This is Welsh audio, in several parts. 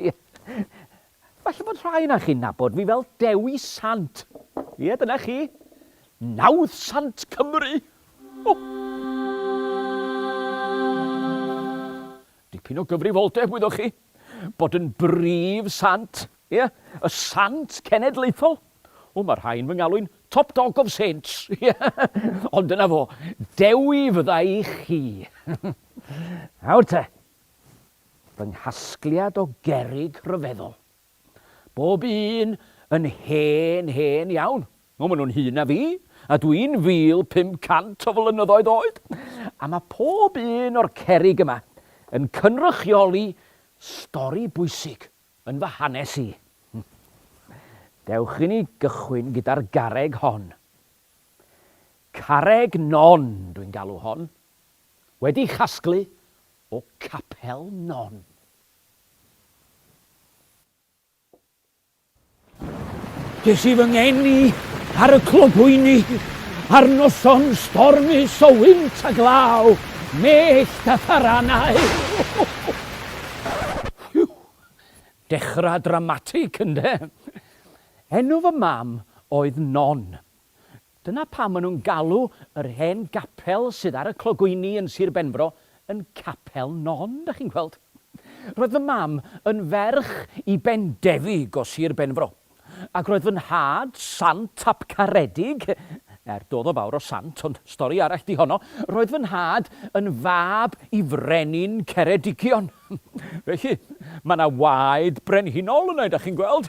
Ie. Falle bod rhai ohonoch chi'n nabod fi fel Dewi Sant. Ie, dyna chi. Nawdd Sant Cymru! O! Dipyn o gyfrifoldeb, wyddoch chi, bod yn brif sant, ie, y sant cenedlaethol. O, mae rhai yn fy ngalw'n top dog of saints, ie. Ond dyna fo, Dewi fydda i chi. Nawr te, fy nghasgliad o gerrig rhyfeddol. Bob un yn hen, hen iawn. O, maen nhw'n hŷn na fi, a dwi'n 1,500 o flynyddoedd oed! A mae pob un o'r cerrig yma yn cynrychioli stori bwysig yn fy hanes i. Dewch i ni gychwyn gyda'r garreg hon. Carreg Non dwi'n galw hon. wedi chasglu o Capel Non. Ges i fy ngeni ar y clogwyni ar noson stormus o wynt a glaw, mellt a tharanau. Whew! Dechrau dramatig, ynde? Enw fy mam oedd Non. Dyna pam maen nhw'n galw yr hen gapel sydd ar y clogwyni yn Sir Benfro yn Capel Non, dach chi'n gweld. Roedd fy mam yn ferch i Bendefig o Sir Benfro, ac roedd fy nhad, Sant ap Caredig, er doedd o fawr o sant, ond stori arall 'di honno, roedd fy nhad yn fab i frenin Ceredigion. Felly, mae 'na waed brenhinol yna, dach chi'n gweld.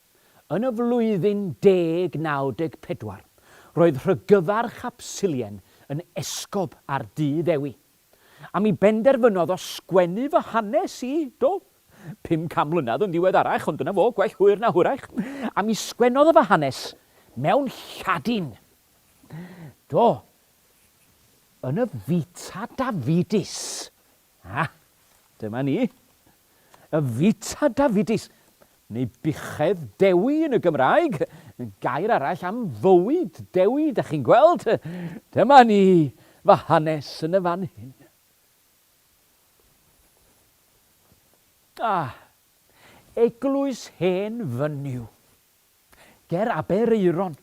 Yn y flwyddyn 1094, roedd rhygyfarch Absilien yn esgob ar du Ddewi, a mi benderfynodd o sgwennu fy hanes i, do, pum can mlynedd yn ddiweddarach, ond dyna fo, gwell hwyr na hwyrach, a mi sgwennodd o fy hanes mewn Lladin, do, yn y Vita Davidis. A, dyma ni. Y Vita Davidis, neu buchedd Dewi yn y Gymraeg, gair arall am fywyd Dewi, da chi'n gweld. Dyma ni, fy hanes yn y fan hyn. Ah, eglwys hen fynyw. Ger Aberaeron.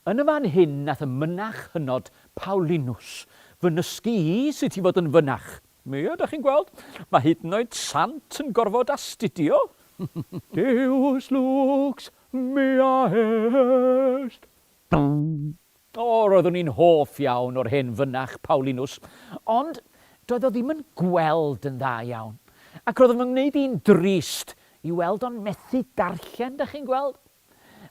Yn y fan hyn nath y mynach hynod Paulinus fy nysgu i sut i fod yn fynach. Ia, dach chi'n gweld? Mae hyd yn oed sant yn gorfod astudio! Deus lux mea est! O, roeddwn i'n hoff iawn o'r hen fynach Paulinus, ond doedd o ddim yn gweld yn dda iawn, ac roedd o'n fy ngwneud i'n drist i weld o'n methu darllen, dach chi'n gweld?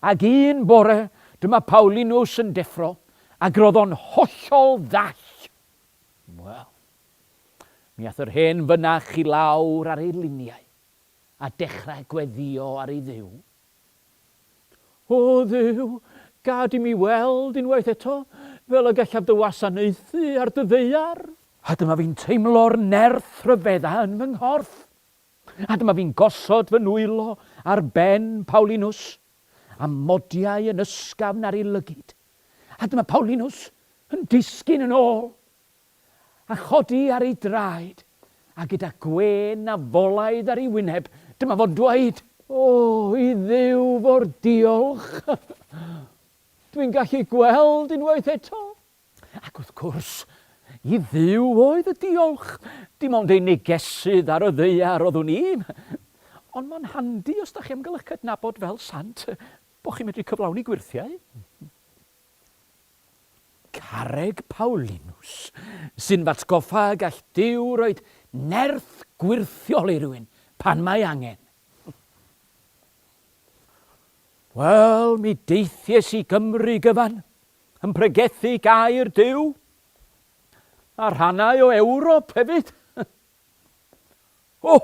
Ac un bore, dyma Paulinus yn deffro, ac roedd o'n hollol ddall. Wel, mi ath yr hen fynach i lawr ar ei liniau, a dechrau gweddïo ar ei Dduw. O Dduw, gad i mi weld unwaith eto fel y gallaf dy wasanaethu ar dy ddaear! A dyma fi'n teimlo'r nerth ryfedda yn fy nghorff. A dyma fi'n gosod fy nwylo ar ben Paulinws, a modiau yn ysgafn ar ei lygid, a dyma Paulinws yn disgyn yn ôl, a chodi ar ei draed, a gyda gwên a folaidd ar ei wyneb, dyma fo'n dweud. O, i Dduw fo'r diolch! Dwi'n gallu gweld unwaith eto! Ac wrth gwrs, i Dduw oedd y diolch, dim ond ei negesydd ar y ddaear oeddwn i. Ond mae'n handi os da chi am gael eich cydnabod fel sant, bod chi'n medru cyflawni gwyrthiau. Carreg Paulinus, sy'n fatgoffa y gall Duw roed nerth gwyrthiol i rywun pan mae angen. Wel, mi deithies i Gymru gyfan, yn pregethu gair Duw a rhannau o Ewrop hefyd. o!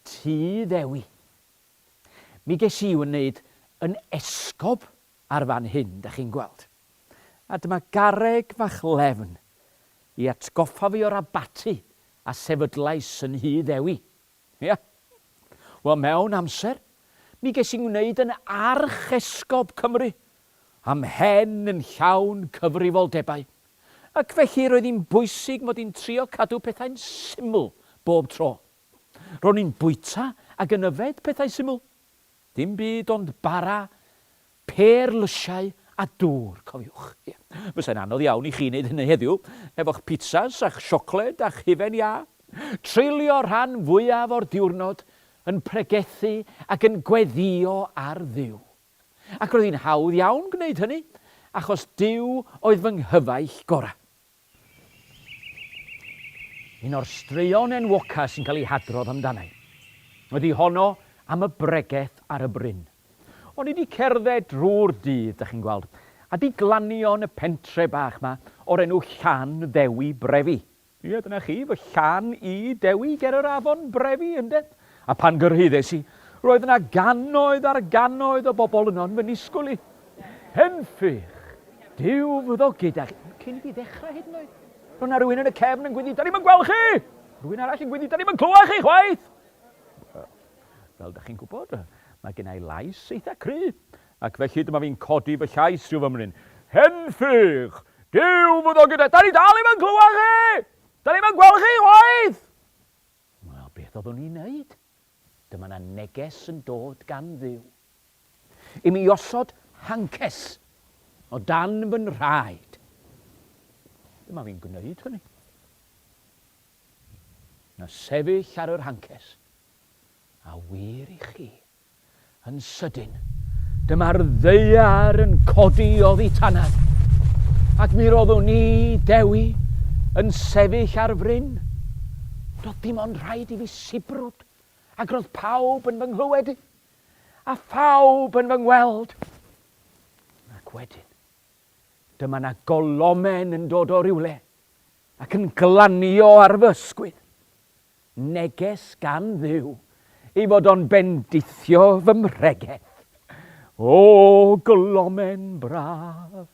Ti ddewi. Mi ges i wneud yn esgob ar fan hyn, da chi'n gweld. A dyma gareg fach lefn i atgoffa fi o'r abaty a sefydlais yn Nhŷ Ddewi. Ia. Wel, mewn amser, mi ges i'n ngwneud yn Archesgob Cymru, a mhen yn llawn cyfrifoldebau, ac felly roedd hi'n bwysig mod i'n trio cadw pethau'n syml bob tro. Ro'n i'n bwyta ac yn yfed pethau syml. Dim byd ond bara, pêr lysiau a dŵr, cofiwch. Ie, fysai'n anodd iawn i chi wneud hynny heddiw, efo'ch pitsas a'ch siocled a'ch hufen iâ. Treulio'r rhan fwyaf o'r diwrnod yn pregethu ac yn gweddïo ar Dduw. Ac roedd hi'n hawdd iawn gwneud hynny, achos Duw oedd fy nghyfaill gorau. Un o'r straeon enwoca sy'n cael ei hadrodd amdana'i ydy honno am y bregeth ar y bryn. O'n i 'di cerdded drwy'r dydd, 'dach chi'n gweld, a 'di glanio yn y pentre bach 'ma o'r enw Llan Ddewi Brefi. Ie, dyna chi, fy llan i, Dewi ger yr afon Brefi, ynde? A phan gyrhaeddes i, roedd yna gannoedd ar gannoedd o bobl yno yn fy nisgwyl i. Henffych! Duw fyddo gyda chi. Cyn i fi ddechrau hyd yn oed, roedd yna rywun yn y cefn yn gwynnu, 'Da ni'm yn gweld chi! Rhywun arall yn gwynnu, 'Da ni'm yn clywed chi chwaith! Fel da chi'n gwybod, mae gen i lais eitha cry, ac felly dyma fi'n codi fy llais rhyw fymryn. Henffych! Duw fyddo gyda... Da ni dal ddim yn clywed chi! Da ni'm yn gweld chi chwaith! Wel, beth oeddwn i'n neud? Dyma 'na neges yn dod gan Dduw i mi i osod hancers o dan fy nhraed. Dyma fi'n gwneud hynny. Na sefyll ar yr hancers, a wir i chi, Yn sydyn, dyma'r ddaear yn codi oddi tanaf, ac mi roeddwn i, Dewi, yn sefyll ar fryn. Doedd dim ond rhaid i fi sibrwd, ac roedd pawb yn fy nghlywed i, a phawb yn fy ngweld. Ac wedyn, dyma na golomen yn dod o rywle ac yn glanio ar fy ysgwydd. Neges gan Dduw, ei fod o'n bendithio fy mhregeth. O, glomen braf!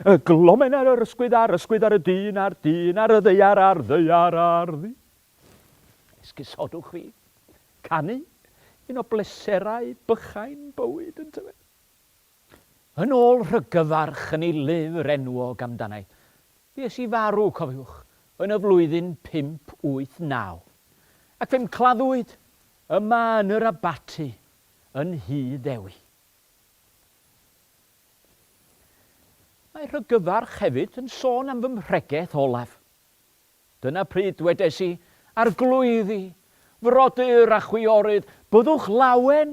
Y glomen ar yr ysgwydd, a'r ysgwydd ar y dyn, a'r dyn ar y ddeiar, a'r ddeiar ar ddi. Esgusodwch fi. Canu, un o bleserau bychain bywyd, yntyfe? Yn ôl rhyggyfarch yn ei lyfr enwog amdana'i, fues i farw, cofiwch, yn y flwyddyn 589, ac fe'm claddwyd yma yn yr abaty yn Nhŷ Ddewi. Mae rhyggyfarch hefyd yn sôn am fy mhregeth olaf. Dyna pryd dwedes i, Arglwydd i, frodyr a chwiorydd, byddwch lawen,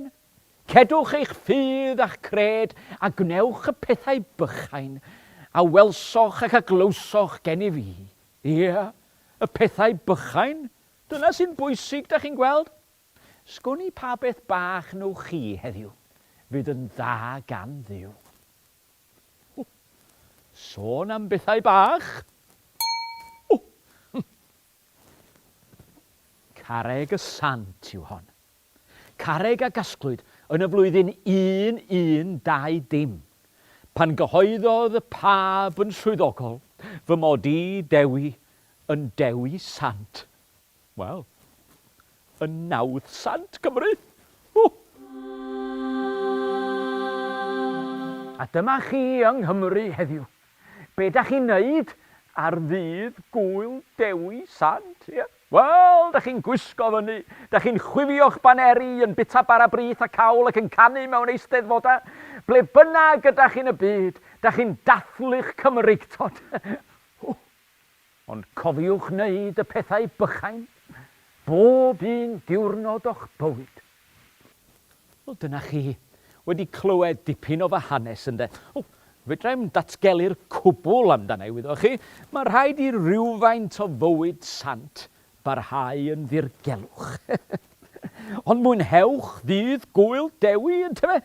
cedwch eich ffydd a'ch cred, a gwnewch y pethau bychain, a welsoch ac a glywsoch gennyf i. Ie, y pethau bychain, dyna sy'n bwysig, da chi'n gweld. Sgwn i pa beth bach wnewch chi heddiw, fydd yn dda gan Dduw. Sôn am bethau bach. Carreg y Sant yw hon. Carreg a gasglwyd yn y flwyddyn 1120, pan gyhoeddodd y Pab yn swyddogol fy mod i, Dewi, yn Dewi Sant. Wel, yn nawdd sant Cymru! Ww! A dyma chi yng Nghymru heddiw. Be dach chi'n neud ar ddydd Gŵyl Dewi Sant, ie? Wel, dach chi'n gwisgo fyny, dach chi'n chwifio'ch baneri, yn bita bara brith a cawl ac yn canu mewn eisteddfodau. Ble bynnag ydach yn y byd, dach chi'n dathlu'ch Cymreictod. Ww! Ond cofiwch wneud y pethau bychain bob un diwrnod o'ch bywyd. Wel, dyna chi. Wedi clywed dipyn o fy hanes, ynde? Wel, fedra i'm datgelu'r cwbl amdana i, wyddoch chi. Mae rhaid i rywfaint o fywyd sant barhau yn ddirgelwch. Ond mwynhewch ddydd Gŵyl Dewi, yntyfe?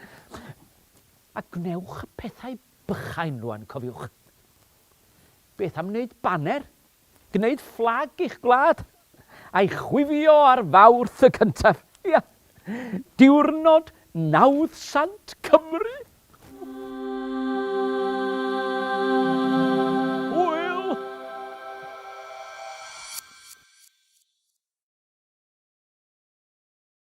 A gwnewch y pethau bychain rŵan, cofiwch. Beth am wneud baner? Gwneud fflag i'ch gwlad? A'i chwifio ar Fawrth y cyntaf? Ia, diwrnod nawdd sant Cymru! Hwyl!